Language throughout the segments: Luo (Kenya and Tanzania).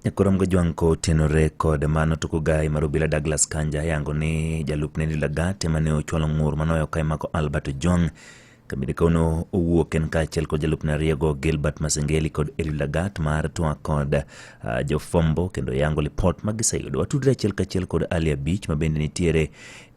Nyakorom Gojwang' kotenore kod mano to kogayi mar obila Douglas Kanja yango ni jalup Nelly Lagat ema ne ochwalo ng'ur manoyo ka imako Albert Ojwang' kabinde kawono owuok en kaachiel kod jalupne ariyogo Gilbert Masengeli kod Eli Lagat mar twa kod uh, jofombo kendo yango lipot ma giseyudo. Watudre achiel kachiel kod Ali Abich ma bende nitiere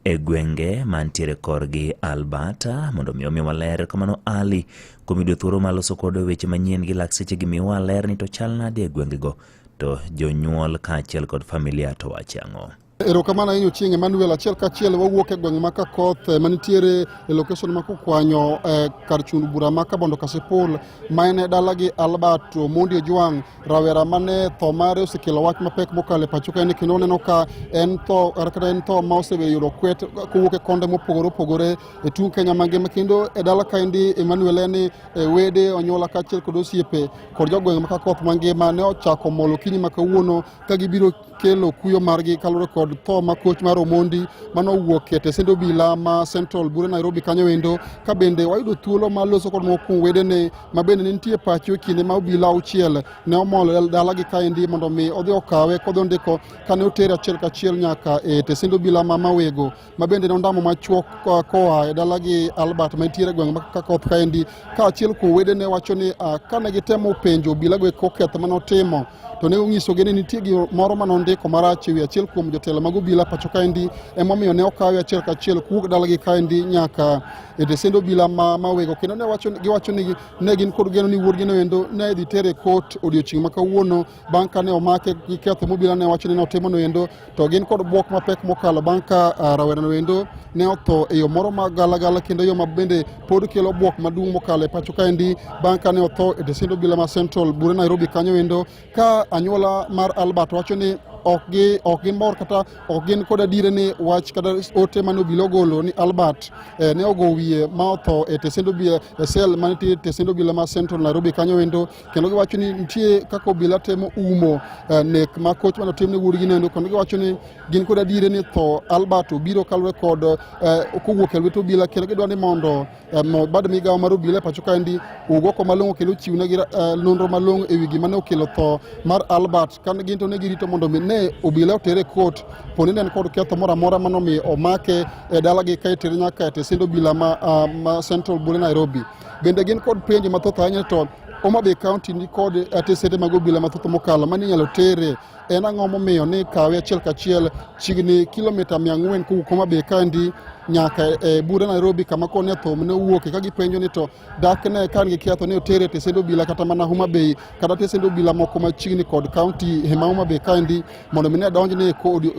e gwenge mantiere korgi Albert mondo mi omi waler kamano Ali Kuom yudo thuolo ma loso kod weche manyien gi lakseche gi miwa ler ni to chal nade e gwengego to jonyuol kaachiel kod familia to wache ang'o? Erokamano ahinya Ochieng' Emmanuel. Achiel kachiel wawuok e gweng' ma Kakoth eh, manitiere e location ma Kukwanyo eh, kar chund bura ma Kabondo Kasipul ma en e dalagi Albert Omondi Ojwang' rawera mane tho mare osekelo wach mapek mokalo e pacho kaeni kendo oneno ka en tho kata en tho ma oseyudo kwet kowuok e konde mopogore opogore e tung' Kenya mangima kendo e dala kaendi Emmanuel en ni e wede onyuola kaachiel kod osiepe kod jogweng' maka koth mangima ne ochako molo kinyi ma kawuono ka gibiro kelo kuyo margi kaluwore kod tho ma koch mar Omondi mano owuok e tesend obila ma Central Bure Nairobi kanyo endo ka bende wayudo thuolo ma loso kod moko kuom wedene ma bende ne nitie pacho e kinde ma obila auchiel ne omol e dalagi kaendi mondo mi odhi okawe kodhi ondiko kane otere achiel kachiel nyaka e tesend obila ma Mawego ma bende ne ondamo machuok koa e dalagi Albert ma nitiere gweng' ma Kakoth kaendi kaachiel kuom wedene wacho ni ah, kane gitemo penjo obilago e koketh ma notimo to ne onyisogi ni nitie gimoro ma nondiko marach e wi achiel kuom jotelo mag obila pacho kaendi emomiyo ne okawe achiel kachiel kuwuok dalagi kaendi nyaka e desend obila ma mawego kendo giwacho ni ne gin kod geno ni wuodgino endo ne idhi tere kot odiochieng' ma kawuono bang' kane omake gi ketho mobila ne wacho ni notimono endo to gin kod bwok mapek mokalo bang' ka ah, rawerano endo ne otho e yo moro ma galagala kendo yo ma bende pod kelo bwok maduong' mokalo e pacho kaendi bang' kane otho e tesind obila ma central bure nairobi kanyo endo ka anyuola mar albert wacho ni ok gi ok gin mor kata ok gin kod adiere ni wach kata ote mane obila ogolo ni albert eh, ne ogo wiye ma otho e tesend obila e sel mane tie tesend obila ma central nairobi kanyo endo kendo giwacho ni nitie kaka obila temo umo eh, nek ma koch mane otim ne wuodgi nendo kendo giwacho ni gin kod adiere ni tho Albert obiro kalure kod eh, kowuok e lwet obila kendo gidwa ni mondo eh, bad migawo mar obila e pacho kaendi owuog oko malong'o kendo ochiwnegi nonro malong'o e wi gima ne okelo tho mar Albert kane gin to ne girito mondo mi ne obila otere kot poni ne en kod ketho moro amora mano mi omake e dalagi ka itere nyaka e tesend obila ma ah, Central Bule Nairobi Bende gin kod penjo mathoth ahinya to Homa Bay County ni kod atesete mag obila mathoth mokalo mane inyalo tere en ang'o momiyo ni kawe achiel kachiel chiegni kilomita mia ang'wen kowuok Homa Bay County nyaka e bura Nairobi kama koni athom ne owuoke ka gipenjo ni to dak ne kan gi ketho ni otere e tesende obila kata mana Homa Bay kata tesende obila moko machiegni kod kaunti ma Homa Bay County mondo mi ne donj ne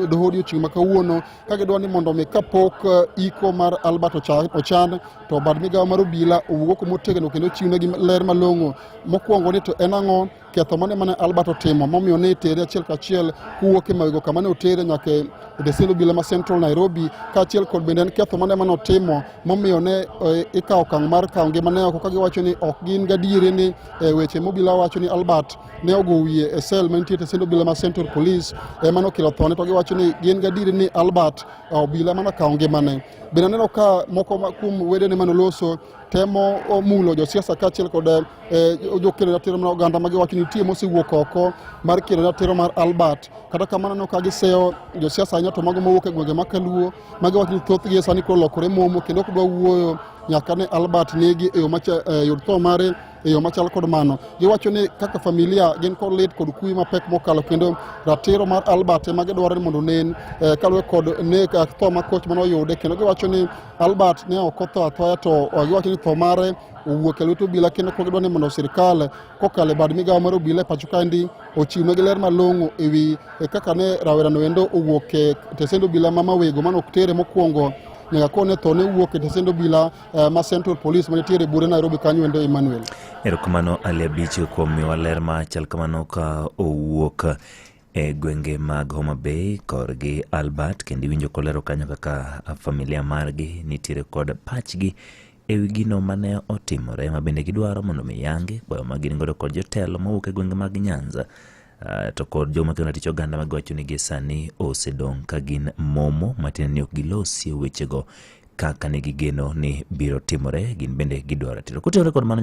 doho odiochieng' ma kawuono ka gidwa ni mondo mi kapok eh, iko mar Albert ochan to bad migawo mar obila owuo kuma otegno kendo chiwnegi ler malong'o mokwongo ni to en ang'o ketho mane mane Albert otimo momiyo ne tere achiel kachiel kuwuok e mawego kama ne otere nyaka e desend obila ma Central Nairobi kaachiel kod bende en ketho mane mane otimo momiyo ne eh, ikawo okang' mar kawo ngimane oko ka giwacho ni ok gin gadiere ni eh, weche mobila wacho ni Albert ne ogo wiye e sel mantie te sendo obila ma Central Police ema nokelo thone to giwacho ni gin gadier ni Albert uh, obila ema nokawo ngimane. Bende aneno ka moko kuom wedene mane oloso temo uh, mulo josiasa kaachiel kod uh, jokelo ratiro mar oganda ma giwacho ni nitie mosewuok oko mar kelo ratiro mar Albert. Kata kamano aneno ka giseyo josiasa ahinya to mago mowuok e gwenge ma Kaluo ma giwacho ni thothgi e sani koro olokore momo kendo ok dwa wuoyo nyaka ne Albert negi e yo e yor tho mare e yo machal kod mano. Giwacho ni kaka familia gin kod lit kod kuwi mapek mokalo kendo ratiro mar Albert ema gidwaro ni mondo onen eh, kaluwe kod nek eh, tho ma koch mane oyude kendo giwacho ni Albert ne ok otho athoya to eh, giwacho ni tho mare owuok e lwet obila kendo kok gidwa ni mondo sirikal kokalo e bad migawo mar obila e pacho kaendi ochiwnegi ler malong'o e wi eh, kaka ne rawerano endo owuok e tesend obila ma mawego mane ok tere mokwongo nyaka kone tho ne wuok e tesend obila uh, ma Central Police manitiere bure Nairobi kanyo ende Emmanuel. Erokamano Ali Abich kuom miwa ler ma chal kamano ka owuok e gwenge mag Homa Bay korgi Albert kendo iwinjo kolero kanyo kaka familia margi nitiere kod pachgi e wi gino mane otimore ma bende gidwaro mondo mi yangi kwayo ma gin godo kod jotelo mowuok e gwenge mag Nyanza Uh, to kod joma kendo tich oganda ma giwacho ni gie sani osedong' ka gin momo matiende ni ok gilosie wechego kaka ne gigeno ni biro timore, gin bende gidwaro ratiro. Kotenore kod mano,